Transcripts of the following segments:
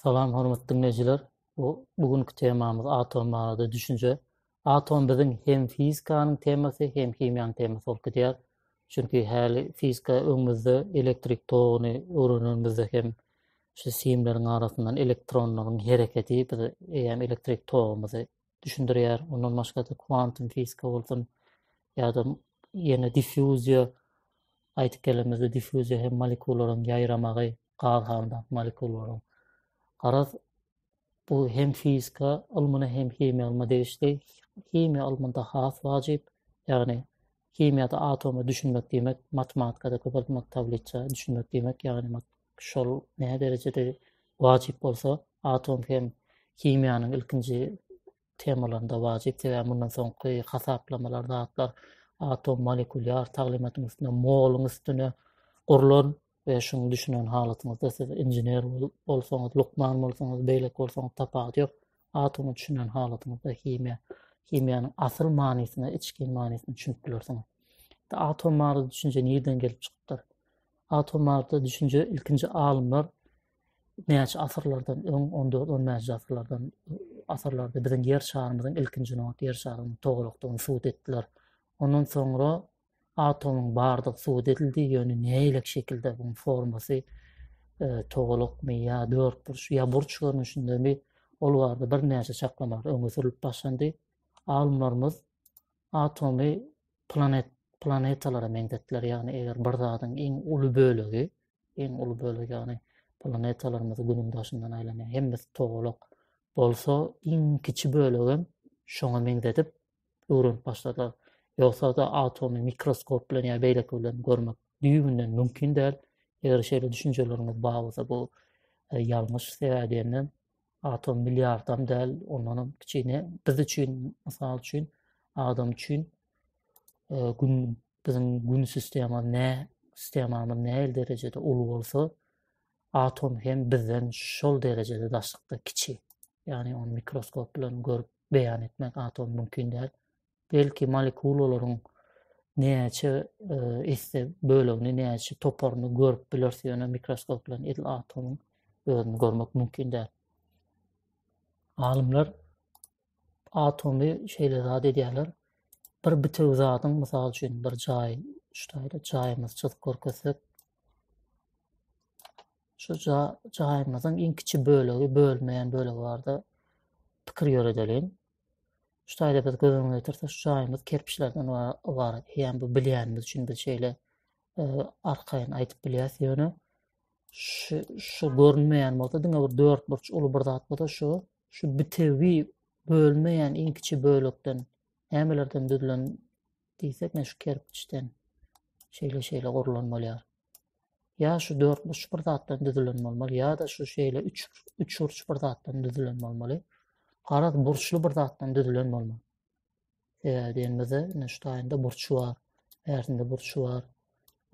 Salam hormatly diňleýjiler. Bu bu günki temamyz atom barada düşünje. Atom biziň hem fizikanyň temasy, hem himiýanyň temasy bolup gidýär. Çünki häli fizika öňümizde elektrik toguny öwrenenimizde hem şu simleriň arasyndan elektronlaryň hereketi bize eýýäm elektrik togumyzy düşündirýär. Ondan başga da kwantum fizika bolsun ýa-da ýene diffuziýa aýdyp gelenimizde diffuziýa hem molekularyň ýaýramagy, gaz halyndaky molekullaryň. Garaz, bu hem fizika ylmyna, hem himiýa ylmyna degişli. Himiýa ylmynda has wajyp, ýagny himiýada atoma düşünmek diýmek, matematikada köpeltmek tabliça düşünmek diýmek, ýagny şol näderejede wajyp bolsa, atom hem himiýanyň ilkinji temalarynda wajyp, sebäbi mundan soňky hasaplamalar, zatlar atom molekulýar taglymatyň üstüne, moluň üstüne gurlan we şuny düşünen halatyňyzda siz inžener bolsaňyz, lukman bolsaňyz, beýleki bolsaňyz tapawudy ýok. Atomy düşünen halatyňyzda himiýa, himiýanyň asyl manysyny, içgin manysyny düşünip bilersiňiz. Atom barada düşünje nirden gelip çykypdyr? Atom barada düşünje ilkinji alymlar näçe asyrlardan öň, on dört, on bäşinji asyrlardan asyrlarda biziň ýer şarymyzyň ilkinji nobat ýer şarynyň togalakdygyny subut etdiler. Ondan soňra atomyň bardygy subut edildi, ýöne nähili şekilde bu formasy e, togalakmy ýa dörtburç ýa burç görnüşindemi ol barada birnäçe çaklamalar öňe sürülip başlandy. Alymlarymyz atomy planet planetalara meňzetdiler. Ýagny eger bir zadyň iň uly bölegi, iň uly bölegi ýagny planetalarymyz günüň daşyndan aýlanýar. Hemmesi togalak bolsa, iň kiçi bölegem şoňa meňzedip öwrenip başladylar. Ýogsa-da atomy mikroskop bilen ýa beýleki bilen görmek düýbünden mümkin däl. Eger şeýle düşünjeleriňiz bar bolsa, bu e, ýalňyş sebäbi atom milliardam däl, ondanam kiçine. Biz üçin, mysal üçin, adam üçin e, gün biziň gün sistema ne sistemamyz nähili derejede uly bolsa, atom hem bizden şol derejede daşlykda kiçi. Ýagny ony mikroskop bilen görüp beýan etmek atom mümkin däl. belki molekulalaryň näçe e, esse bölegini, näçe toparyny görüp bilersiň, ýöne mikroskop bilen edil atomyň özüni görmek mümkin däl. Alymlar atomy şeýle zat edýärler. Bir bitew zadyň, mysal üçin, bir jaý, şu taýda jaýymyzy çyzyp görkezsek, şu jaýymyzyň iň kiçi bölegi, bölmeýän bölegi barda pikir ýöredeliň. Şu taýda biz göz öňüne getirsek, şu jaýymyz kerpiçlerden ybarat. Ýa bu bilýänimiz üçin biz şeýle e, arkaýyn aýdyp bilýäs, ýöne şu şu görünmeýän bolsa diňe bir dört burç uly bir zat bolsa şu şu bitewi bölmeýän iň kiçi bölekden nämelerden düzülen diýsek, men şu kerpiçden şeýle şeýle gurlan bolýar. Ýa şu dört burç bir zatdan düzülen bolmaly, ýa-da şu şeýle üç üç burç bir zatdan düzülen bolmaly. Garaz burçly bir zatdan düzülen bolmaly. Sebäbi diýenimizde, ine şu taýynda burç bar, bärsinde burç bar,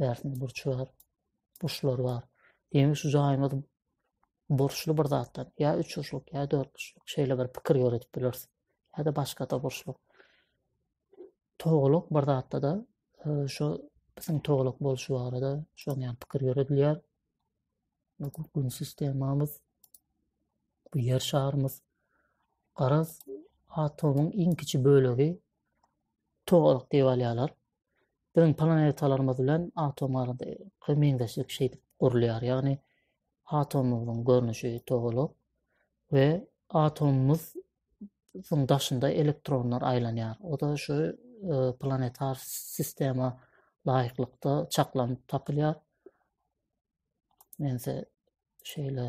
bärsinde burç bar, burçlar bar. Demek şu jaýymyz burçly bir zatdan, ýa üç burçluk, ýa dört burçluk şeýle bir pikir ýöredip bileris. ýa-da başga-da burçluk. Togalak bir zatda-da e, şu biziň togalak bolşy barada şoň ýan pikir ýöredilýär. Bu gün sistemamyz, bu ýer şarymyz, garaz, atomyň iň kiçi bölegi togalak diýip alýarlar. Biziň planetalarymyz bilen atom arasyndaky meňzeşlik şeýdip gurulýar, ýagny atomymyzyň görnüşi togalak we atomymyz nyň daşynda elektronlar aýlanýar. O-da şu planetar sistema laýyklykda çaklanyp tapylýar. Mense şeýle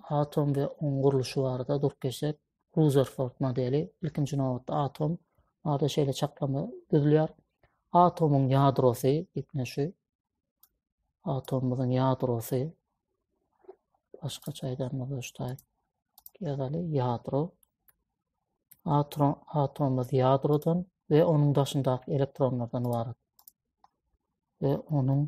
atom we oň gurluşy barada durup geçsek, Ruzerford modeli, ilkinji nobatda atom, ada şeýle çaklama düzülýär. Atomyň ýadrosy, ýetne şu, atomymyzyň ýadrosy, başga çaýdanmada ştaý, ýadaly ýadro, atomymyz ýadrodan we onuň daşyndaky elektronlardan ibarat. Ve onuň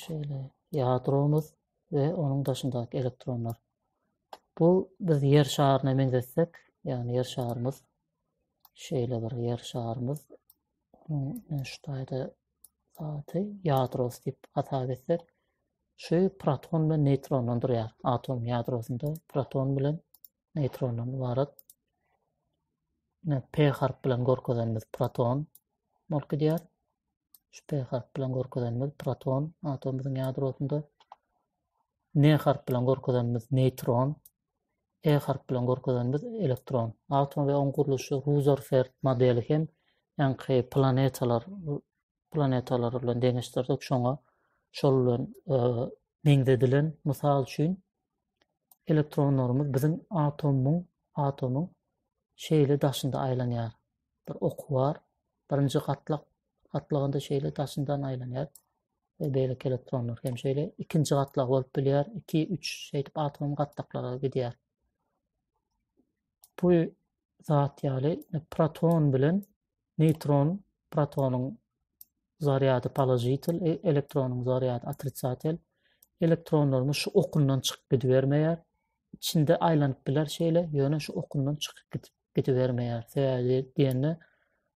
şeýle ýadromyz we onuň daşyndaky elektronlar. Bu biz ýer şaryna meňzetsek, ýagny ýer şarymyz şeýle bir ýer şarymyz şu taýda zady ýadrosy diýip hasap etsek, şu proton bilen neýtrondan durýar. Atom ýadrosynda proton bilen neýtrondan ybarat. Ine P harp bilen görkezenimiz proton bolup gidýär. Şu P harp bilen görkezenimiz proton atomymyzyň ýadrosynda. N harp bilen görkezenimiz neýtron. E harp bilen görkezenimiz elektron. Atom we oň gurluşy Ruzerford modeli hem ýaňky planetalar planetalary bilen deňeşdirdik. Şoňa şol bilen e, meňzedilen mysal üçin elektronlarymyz biziň atomyň atomyň şeýle daşynda aýlanýar. Bir oky bar. Birinji gatlak gatlagynda şeýle daşyndan aýlanýar. Ve beýleki elektronlar hem şeýle ikinji gatlag bolup bilýär. 2 3 şeýdip atom gatlaklara gidýär. Bu zat ýaly proton bilen Neýtron, protonyň zarýady položitel, e, elektronyň zarýady otrisatel. Elektronlarymyz şu okundan çykyp gidibermeýär. Içinde aýlanyp biler şeýle, ýöne şu okundan çykyp gidip gidibermeýär. Sebäbi diýende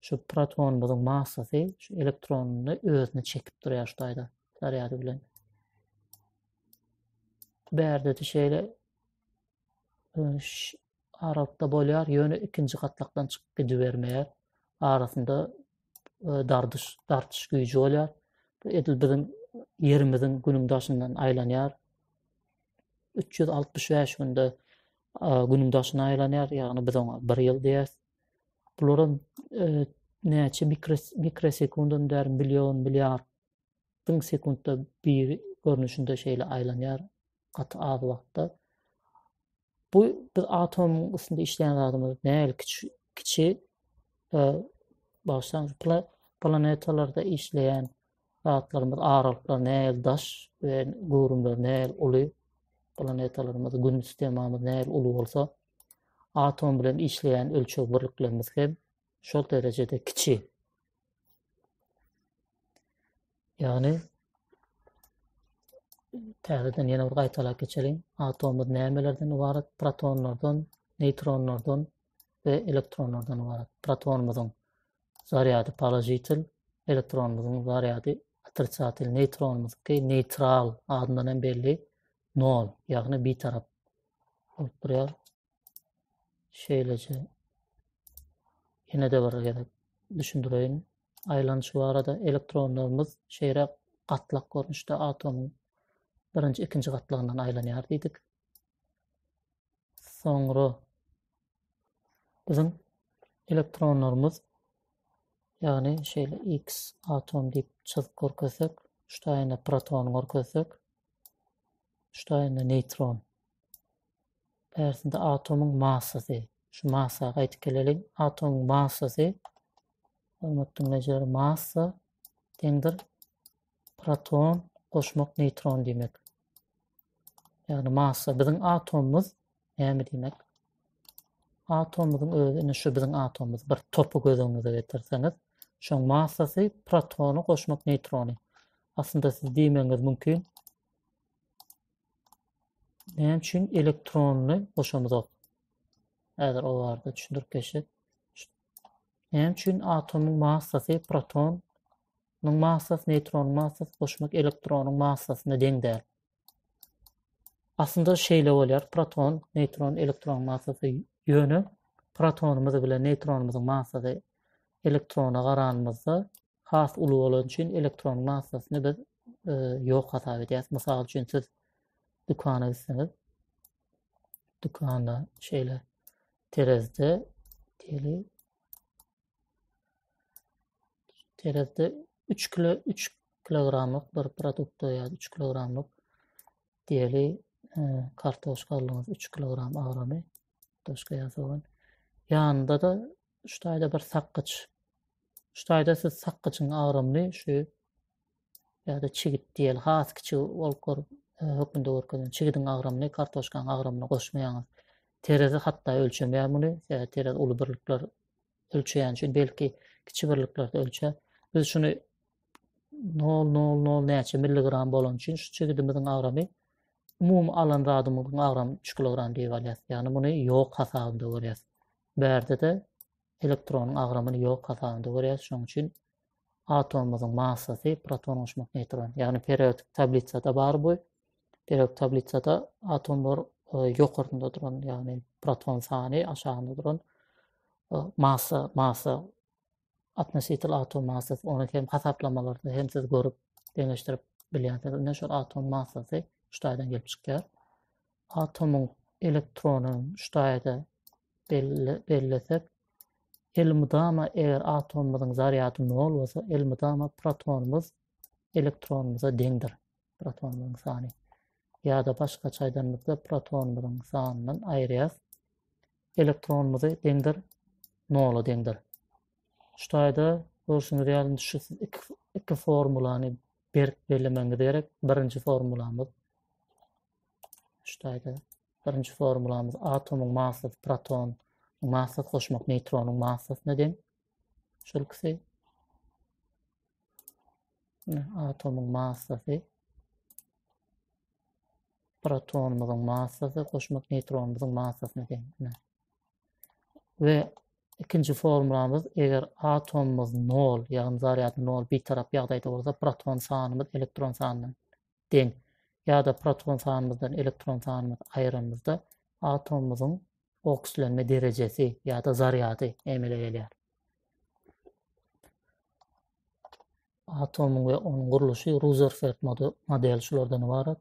şu protonymyzyň massasy şu elektronyny özüne çekip durýar şu taýda zarýady bilen. Bärde-de şeýle aralykda bolýar, ýöne ikinji gatlakdan çykyp gidibermeýär. Arasynda e, dardyş, dartyş güýji bolýar. Bu edil biziň ýerimiziň günüň daşyndan aýlanýar. 365 günde e, günüň daşyna aýlanýar, ýagny biz oňa 1 ýyl diýýäs. Bularam e, näçe mikrosekundan däri million milliard Diň sekuntda bir görnüşinde şeýle aýlanýar gaty az wagtda. Bu biz atomyň üstünde işleýän zadymyz näl kiçi kiçi e, başdan planetalarda işleýän zatlarymyz aralyklar näl daş we göwrümler näl uly planetalarymyz gün sistemamyz näl uly bolsa atom bilen işleýän ölçeg birliklerimiz hem şol derejede kiçi. Ýagny täzeden ýene bir gaýtalap geçeliň. Atomumyz nämelerden ibarat? Protonlardan, neýtronlardan we elektronlardan ibarat. Protonumyzyň zarýady položitel, elektronumyzyň zarýady otrisatel, neýtronumyzky neýtral adyndan hem belli 0, ýagny bitarap bolup durýar. Şeýleje ýene de bir gezek düşündireýin. Aýlanyşy barada elektronlarymyz şeýräk gatlak görnüşde atomyň birinji, ikinji gatlagyndan aýlanýar diýdik. Soňra biziň elektronlarymyz ýagny şeýle X atom diýip çyzyp görkezsek, şu taýynda protony görkezsek, Ştaýnda neýtron. Bärsinde atomyň massasy. Şu massa gaýdyp geleliň. Atomyň massasy hormat diňleýjiler massa deňdir proton goşmak neýtron diýmek. Ýagny massa biziň atomymyz näme diýmek? Atomymyzyň özi indi şu biziň atomymyz bir topy göz öňüňize getirseňiz, şoň massasy protony goşmak neýtrony. Aslynda siz diýmegiňiz mümkin, Näme üçin elektronny goşamyzok? Häzir o barada düşündirip geçip. Näme üçin atomyň massasy proton Nuň massas, neýtron massas, goşmak elektronyň massasyna deň däl. Aslynda şeýle bolýar, proton, neýtron, elektron massasy ýöne protonymyz bilen neýtronymyzyň massasy elektrona garanymyzda has uly bolany üçin elektron massasyny biz e, ýok hasap edýäris. Mysal üçin siz dükana gitseňiz, dükanda şeýle terezde diýeli terezde 3 kilo 3 kilogramlyk bir produkt ýa 3 kilogramlyk diýeli e, kartoşka aldyňyz 3 kilogram agramy kartoşka ýa sogan. Ýanynda da şu taýda bir sakgyç. Şu taýda siz sakgyçyň agramyny şu ýa-da çigit diýeli has kiçi bolup gör e, hökmünde görkezen çigidiň agramyny kartoşkanyň agramyna goşmaýaňyz. Terezi hatda ölçemeýär muny. Sebäbi terezi uly birlikler ölçeýän üçin belki kiçi birliklerde ölçe. Biz şuny 0,00 näçe milligram bolan üçin şu çigidimiziň agramy umumy alan zadymyzyň agramy 3 kilogram diýip alýas. Ýagny muny ýok hasabynda görýäs. Bärde-de elektronyň agramyny ýok hasabynda görýäris, şonuň üçin atomymyzyň massasy proton goşmak neýtron. Ýagny periodik tablisada bar bu. Periodik tablisada atomlar e, ýokarynda duran, ýagny proton sany aşagynda duran e, massa, massa atmositel atom massasy ony hem hasaplamalarda hem siz görüp deňeşdirip bilýänsiz. Indi şol atom massasy şu taýdan gelip çykýar. Atomyň elektronyny şu taýda bellesek, elmydama eger atomymyzyň zarýady nol bolsa, elmydama protonymyz elektronymyza deňdir. Protonymyzyň sany. Ýa-da başgaça aýdanymyzda protonymyzyň sanyndan aýyrýas. Elektronymyzy deňdir, nola deňdir. Şu taýda görşüňiz ýaly şu siz iki, iki formulany berk bellemeňiz gerek. Birinji formulamyz Ştaýda birinji formulamyz atomyň massasy proton massasy goşmak neýtronyň massasyna deň. Şol ikisi atomyň massasy protonumyzyň massasy goşmak neýtronumyzyň massasyna deň. We ikinji formulamyz eger atomumyz 0, ýagny zarýady 0 bir tarap ýagdaýda bolsa, proton sanymyz elektron sanyna deň. Ýa-da proton sanymyzdan elektron sanymyzy aýyranymyzda atomymyzyň okslenme derejesi ýa-da zarýady emele gelýär. Atomyň we onuň gurluşy Ruzerford modeli şulardan ybarat.